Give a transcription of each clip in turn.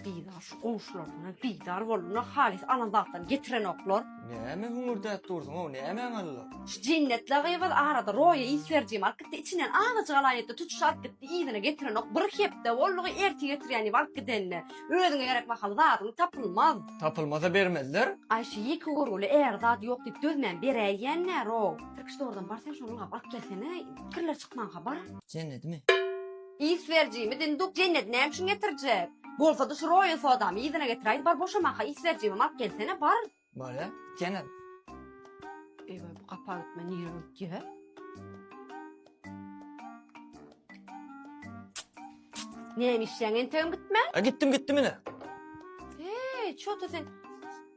Bizä şu goňşularyndan bizar boldular, halys alan zatlaryny getirenoklar. Näme hüňürdäp dursuň-ow, nämäň alla? Şu Jennetli gyzyl arada Roýa is berijimi alyp gitdi, içinden azajyk alaýyn etdi, tutuş alyp gitdi, yzyna getirenok. Bir hepde boldy-gy, ertir getirýän diýip alyp gidenine. Özüňe gerek mahaly zadyň tapylmaz. Tapylmasa bermezler. Aý, şu ýeke görgüli äri zat ýok diýip dözmän beräýýän-ä, Roý. Tirkiş dogrudan bar, sen şony ylgap alyp gelsene, kirler çykmanka bar. Jennetmi? Iş berijimi Dinduk Jennet näme üçin getirjek? Bolsady şu roýal sodamy yzyna getiräýdi bar boşamaha iş berijimem alyp gelsene bar. Bolýa Jennet. Eýwa bu gapa gitme nirä ötýä. Näme işleýäň entegem gitmän? A gitdim gitdim ine. Eý çota sen.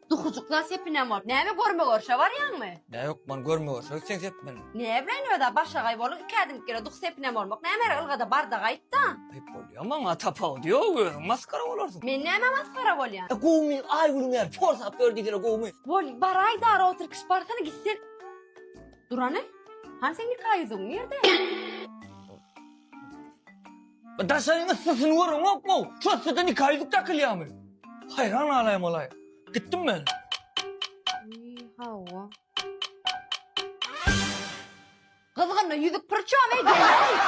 Dukujyklar sepinem bor. Näme görme görşe barýaňmy? Ne yok man görme görşe gitsen sep meni. Ne bilen öda başagaý boluň iki ädim gire duk sepinem bormak näme her ylgada barda gaýtda. Ayıp bolýa maňa tapawudy yok özüň maskara bolarsyň. Men näme masgara bolýan. E gowmy ay gülüň eri porsap ber diýsene gowmy. Bol baraý dara otur kişi barsana gitsen. Durany? Hani seň nika ýüzüň nirde? Daşaryň yssysyny görüňokmy? Şu yssyda nika ýüzük dakylýarmy? Haýran galaýan bolaýyň. Gitdim men. Hawa. Gyzgynly ýüzük pyrçam ey gelin.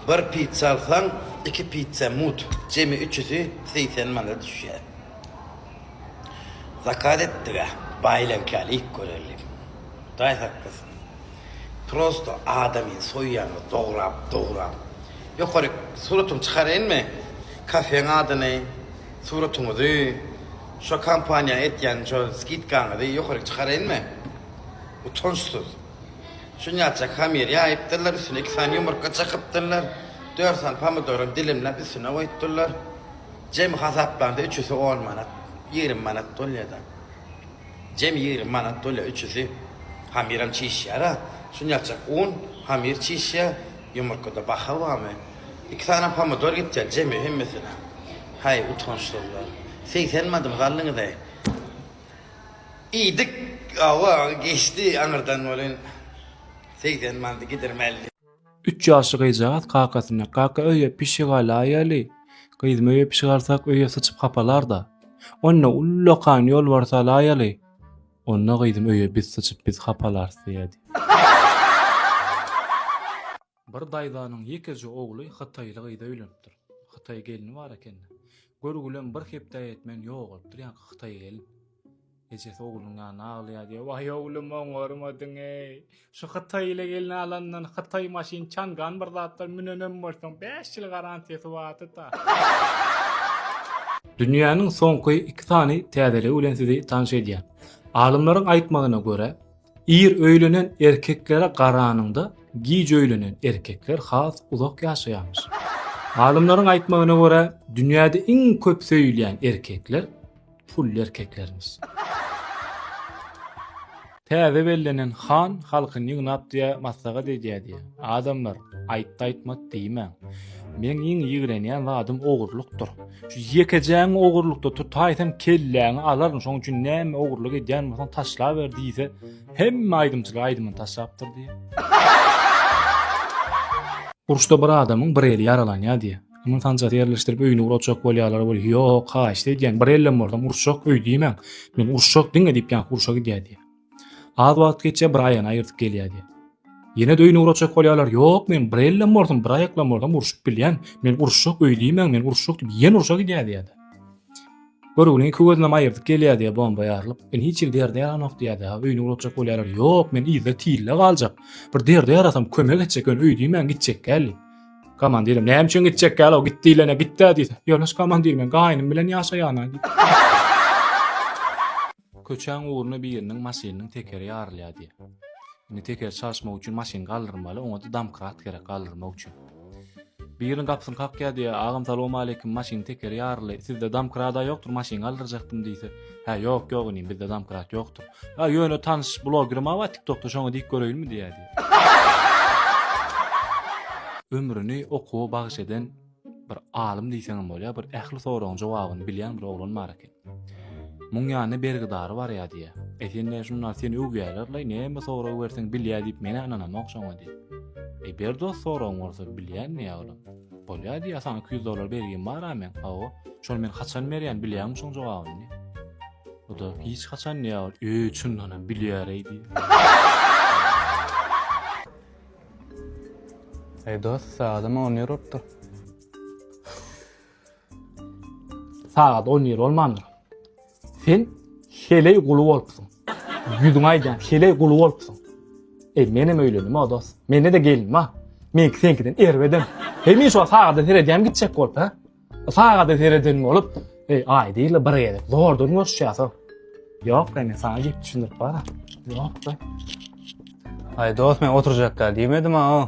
Bir pitsa alsaň, iki pitsa mut, jemi üçüsi segsen manada düşýär. Zakaz etdik-ä, baýylaňky alyp göreliň. Hudaý saklasyn. Prosto adamyny soýýaňyz dograp dograp. Ýokaryk suratyňy çykaraýynmy? Kafeň adyny, suratyňyzy, şo kampaniýa etýän şo skidkaňyzy ýokaryk çykaraýynmy? Utançsyz. Şunýaçak hamyr ýaýypdyrlar, üstüne iki sany ýumurtga çykypdyrlar, dört sany pomidoram dilimläp üstüne goýupdyrlar. Jemi hasaplanda üçüsi on manat, ýigrimi manat bolýada. Jem ýigrimi manat bolýa üçüsi hamiram çişýara şunyakjak un hamir çişýa ýumurkada baha bamy iki sany pomidor gitýa jemi hemmesine haý utançsyzlar segsen madyňyzy aldyňyzaý iýdik awa geçdi aňyrdan welin segsen manady gidirmeli. Üç ýaşly gyzjagaz kakasyna, Kaka, öýe pişik alaýaly. Gyzym, öýe pişik alsak, öýe syçyp hapalar-da. Onda, ullakan ýolbars alaýaly. Onda, gyzym, öýe biz syçyp, biz hapalarys diýýärdi. Bir daýzanyň ýekeje ogly hytaýly gyza öýlenipdir. Hytaý gelni bar eken-de. Görgülem bir hepdä ýetmän ýogalypdyr, ýaňky hytaý gelin. Ejesi oglunyň ýanyna aglaýar diýýär. Waý oglum oňarmadyň-eý. Şu hytaý ile gelin alandan hytaý maşyn çangan bir zatlar münenem bolsaň bäş ýyl garantiýasy bardy-da. Dünýäniň soňky iki sany täzeligi bilen sizi tanyş edýän. Alymlaryň aýtmagyna görä, ir öýlenen erkeklere garanyňda giç öýlenen erkekler has uzak ýaşaýarmyş. Alymlaryň aýtmagyna görä, dünýäde iň köp söýülýän erkekler pully erkeklerimiz. Täze bellenen han halkyny ýygnap diýä maslahat edýä diýä. Adamlar, aýtdy aýtmat diýmäň. Meň iň ýigrenýän zadym ogurlykdyr. Şu ýekejäňi ogurlykda tutaýsam kelläňi alaryn şoň üçin näme ogurlyk edýän bolsaň taşlaber diýse hemme aýdymçylar aýdymyny taşlapdyr diýä. Uruşda bir adamyň bir eli ýaralanýa diýä. Muny sanjasy ýerleşdirip öýüni urajak bolýarlar we ýok, haýyşt edýän, bir ellem bolsam uruşjak öý diýmäň. Men uruşjak diňe diýip ýa uruşa gidýär diýýär. Az wagt geçýär, bir aýany aýyrtyp gelýär diýýär. Ýene öýüni urajak bolýarlar. Ýok, men bir ellem bolsam, bir aýaklam bolsam uruşyp bilýän. Men uruşjak öý diýmäň, men uruşjak diýip ýene uruşa gidýär diýýär. Görügini iki gözünem aýyrdyp gelýär diýýär bomba ýarylyp. Men hiç ýerde ýerde ýaranok diýýär diýýär. Öýüni urajak bolýarlar. Ýok, men ýerde tille galjak. Bir derde ýarasam kömek etjek öý diýmäň gitjek gäli. Komandirim, näme üçin gitjek ýaly, git diýlene gitdä diýse. Ýoldaş komandir, men gaýnym bilen ýaşaýan-a. Köçäň ugruna biriniň maşynynyň tekeri ýarylýar diýýär. Indi tekeri çalyşmak üçin maşyny galdyrmaly, oňa-da domkrat gerek galdyrmak üçin. Biriniň gapysyny kakýar diýýär, agam salowmaleýkim, maşynyň tekeri ýaryldy, sizde domkrada ýokdur, maşyn galdyrjakdym diýse. Hä, ýok, ýok inim, bizde domkrat ýokdur. Ha, ýöne tanyş blogerim bar TikTokda, şoňa diýip göreýinmi diýýär diýip. Ömrüni okuwa bagyş eden bir alym diýseň hem bolýar, bir ähli soragyň jogabyny bilýän bir oglan bar eken. Muň ýanynda bergidary barýar diýýär. E sen näme şundan seni öwýärler laý, näme sorag berseň bilýär diýip menä ynanamok şoňa diýip. E ber dost soragyň bolsa bilýän diýýär olam. Bolýa diýýä saňa iki ýüz dollar bergim bar a meň hawa şony men haçan berýän bilýäňmi şoň jogabyny bu da hiç haçan diýýä ol öý üçindanam bilýäreý diýýä Ey dost, saadym on ýer urupdyr. Saat on ýer olmandyr. Sen heleý guly bolupsyň. Ýüzüňe aýdýan, heleý guly bolupsyň. Eý, menem öýlendim, o dost. Mende-de gelin bar. Meňki seňkiden erbedem. Hemişe şol sagada seredýän gitjek bolup, hä? Sagada sereden bolup, eý, aýda ýyly bir gezek zordan görüşýäs-ow. Ýok, men saňa gep düşündirip bar. Ýok-da. Aý, dost, men oturjak däl diýmedim-ow.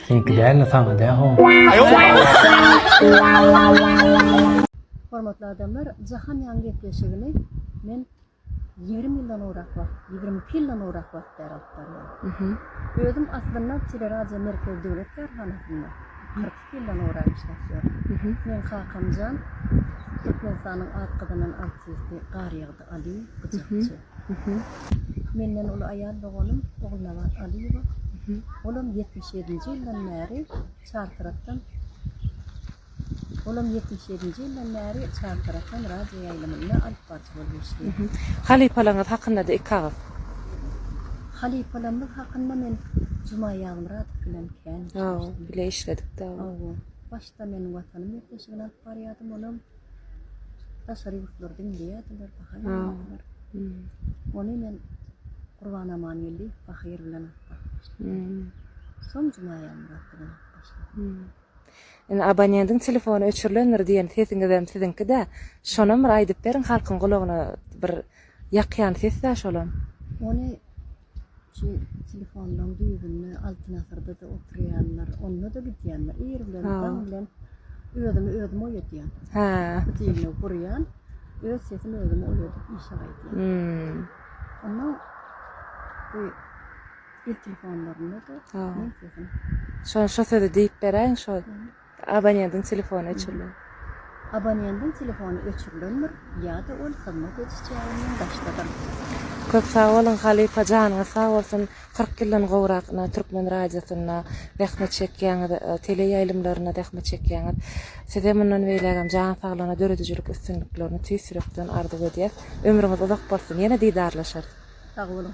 Seňki dälde saňa dä howun. Hormatly adamlar jahan ýaň gepleşigini men ýigrimi ýyldan gowrak wagt, ýigrimi iki ýyldan gowrak wagt bäri alyp barýan. Özüm aslynda Teleradio Merkez döwlet kärhanasynda kyrk iki ýyldan gowrak işläp ýörün. Meň kakamjan Türkmenistanyň at gazanan artisti Garýagdy Alyýew gyjakçy. Menden uly aýal doganym Ogulnabat Alyýewa. Olam ýetmiş ýedinji ýyldan bäri Çartarapdan Olam ýetmiş ýedinji ýyldan bäri Çartarapdan radio ýaýlymynda alypbaryjy bolup işleýär. Halypalaryňyz hakynda-da iki agyz. Halypalarymyz hakynda men Juma Ýazmyradow bilen kän işleşdim. Bile işledik-de. Hawa. Başda men Watanym ýüpleşigini alyp barýardym, olam Daşary ýurtlar diňleýärdiler, baha berýärdiler. Ony men Gurban Amangeldiýew Bahyr bilen gatnaşdym. Soň Jumaýany gatnaşdym. Indi abonentiň telefony öçürilendir diýen sesiňizem siziňki-dä. Şonam bir aýdyp beriň halkyň gulagyna bir ýakýan ses-dä şolam. Ony Şu telefonlaryň düýbünde Altyn asyrda-da oturýanlar, onda-da gidýänler. Ir bilen, daň bilen özümi özüm oýadýan. Hä. Diýme gurýan. Öz sesimi özüm oýadyp işe gaýdýan. Hmm. Onda bu il telefonlarynda-da men sesimi. Şo şo sözi diýip beräýiň şo. Abonendiň telefony öçürilen. Abonendiň telefony öçürilendir ýa-da ol hyzmat ediş jaýyndan daşdadyr. Köp sag boluň halypa janyňyz sag bolsun kyrk ýyldan gowrak na türkmen radiosynda zähmet çekýäňiz tele ýaýlymlarynda zähmet çekýäňiz size mundan beýlägem jan saglygyna döredijilik üstünliklerini tüýs ýürekden arzuw edýäs ömrüňiz uzak bolsun ýene didarlaşarys sag boluň.